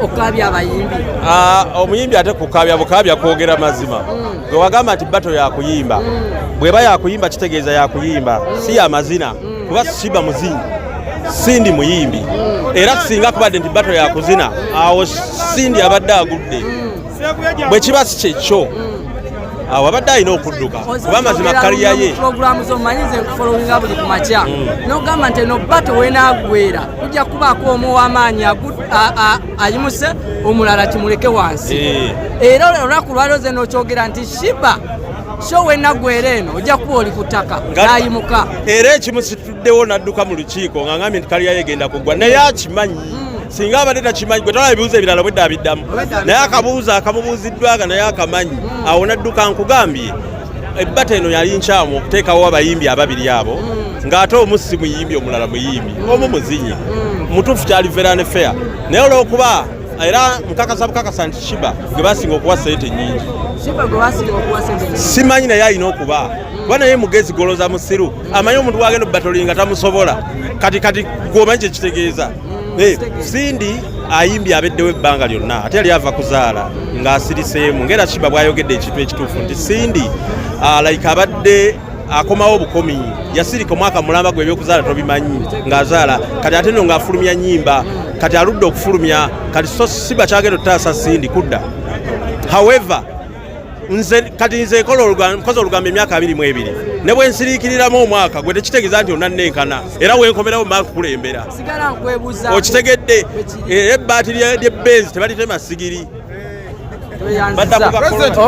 okukaabya abayimbi ah, omuyimbi ate kukaabya bukaabya kwogera mazima mm. gwe wagamba nti bato yakuyimba mm. bweba yakuyimba kitegeeza yakuyimba mm. si yamazina kuba siba muzinyi sindi muyimbi era singa kubadde nti bato yakuzina awo sindi abadde agudde bwe kiba si kyekyo awo abadde alina okudduka kuba amazima kaliya ye pulogulaamu zomanyi ze nkufolowinga buli ku makya mm. n'ogamba nti eno bato wenaagwera kujja kubaako omu ow'amaanyi ayimuse omulala kimuleke wansi eh. era olunaku lwaliro ze nokyogera nti shiba so wenaggwera eno ojja kuba oli ku ttaka n'ayimuka era ekimu ddewo n'adduka mu lukiiko nga ngambye nti kaliyayo egenda kuggwa naye akimanyi hmm. singa abadde takimanyi gwe tolaba ebibuuzo ebirala bwedda abiddamu naye akabuuzo akamubuuziddwaga naye akamanyi hmm. awo n'adduka nkugambye ebbata eno yali nkyamu okuteekawo abayimbi ababiri abo hmm. ng'ate omu si muyimbi omulala muyimbi omu muzinyi mutuufu kyali verane fair naye olw'okuba era nkakasa bukakasa nti shiba gwe basinga okuwa sente nyingi simanyi naye alina okuba kuba naye mugezi goloza musiru amanyi omuntu wagenda obatolinga tamusobola kati kati gwomanyi kyekitegeeza eh, sindi ayimbye abeddewo ebbanga lyonna ate yali ava kuzaala ng'asiriseemu ngaera kiba bwayogedde ekintu ekituufu nti sindi ah, like abadde akomawo obukomi yasirika omwaka mulamba gwe ebyokuzaala tobimanyi ng'azaala kati ate no ng'afulumya nyimba kati aludde okufulumya kati so siba kyagenda otutaasa sindi kudda however nze kati nze nkola olugambo emyaka abiri mu ebiri ne bwe nsiriikiriramu omwaka gwe tekitegeeza nti onannenkana era wenkomerawo mba kukulembera okitegedde era ebbaati lyebbenzi tebalitema sigiri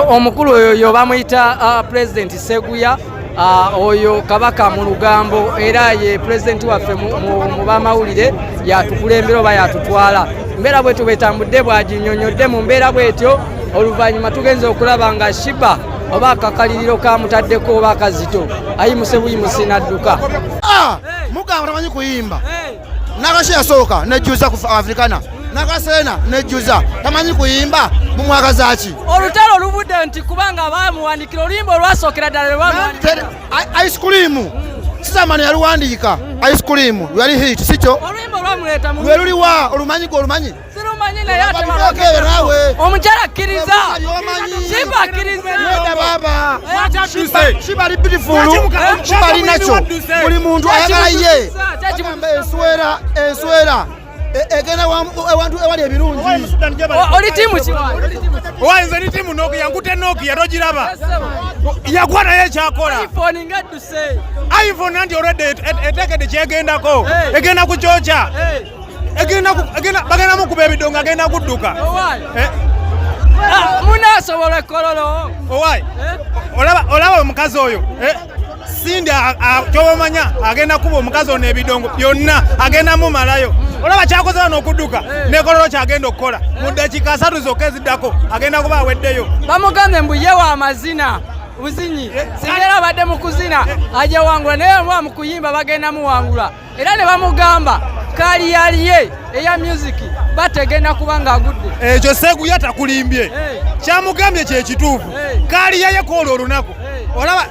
omukulu oyo yo bamuyita uh, pulezidenti seguya Ah, oyo kabaka mu lugambo era ye pulezidenti waffe mu bamawulire yatukulembera oba yatutwala mbeera bwetyo bwetambudde bwaginyonyodde mu mbeera bwetyo oluvannyuma tugenza okulaba nga shiba oba akakaliriro kamutaddeko oba akazito ayimusebuyimusi nadduka ah, mugamba tamanyi kuyimba nakashe yasooka nejjuza ku afrikana nakaseena nejjuza tamanyi kuyimba mumwagazaki olutalo oluvudde nti kubanga bamuwandikira oluyimba olwasookera ddala lwebamuwandikira ice cream mm. sisamana yaluwandiika mm-hmm. ice cream lwali hit sikyo oluyimba olwamuleeta lweluliwa olumanyi gwe olumanyi omukyala akkiriza simba akkirizakibali bitifulu kibali nakyo buli muntu ayagala ye enswera enswera e, egenda ewantu ewali ebirungi oli tiimu owaye nze ni tiimu nokia yankute nokia togiraba yakuwa naye ekyakola iphone nanti olwedde etekedde kyegendako egenda kukyokya bagenda mukuba ebidongo agenda kudduka eh? ah, munasobola ekololo owai eh? olaba omukazi oyo eh? sindi kyobamanya agenda kuba omukazi ono ebidongo byonna agenda mumalayo olaba kyakoze wano okudduka eh. nekololo kyagenda okukola eh. mu dakiika asatu zokka eziddako agenda kuba aweddeyo bamugambye mbu ye wa mazina buzinyi eh, singa era abadde mu kuzina ajawangula naye omuwa mu kuyimba bagenda muwangula era ne bamugamba kaliyaliye eya myuziki bategenda kuba ng'agudde ekyo eh, seguya takulimbye eh. kyamugambye kyekituufu eh. kaliyayeko olwo olunaku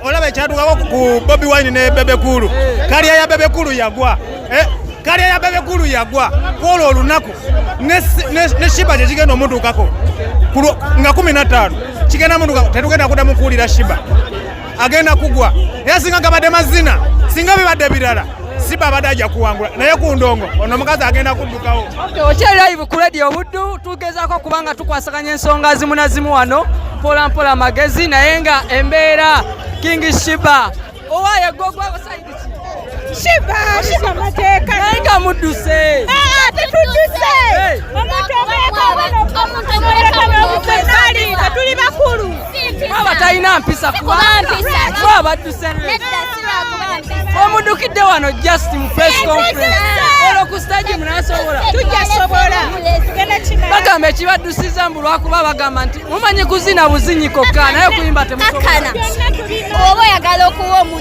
olaba ekyatukako ku bobi wine ne bebekulu kaliya ya bebekulu yagwa kaliya ya bebekulu yagwa kwolwo olunaku ne shiba kyekigenda omutuukako nga kumi na ttaano kigenda mutuka tetugenda kudamu kuwulira shiba agenda kugwa era singa gabadde mazina singa bibadde birala siba abadde ajja kuwangula naye ku ndongo ono omukazi agenda kuddukawo okyeraivu ku radio obuddu tugezaako kubanga tukwasaganya ensonga zimu na zimu wano mpolampola magezi naye nga embeera king shiba owaye gogwa shiba shiba mateeka naye nga mudduse tetudduse omuntu omuekomuali nga tuli bakulu aba talina mpisa kubabadduse omudukidde wano just mu press conference olo ku stage munasobola tujasobola bagamba ekibaddusiza mbu lwakuba bagamba nti mumanyi kuzina buzinyi kokka naye okuyimba temusobola oba oyagala okuwa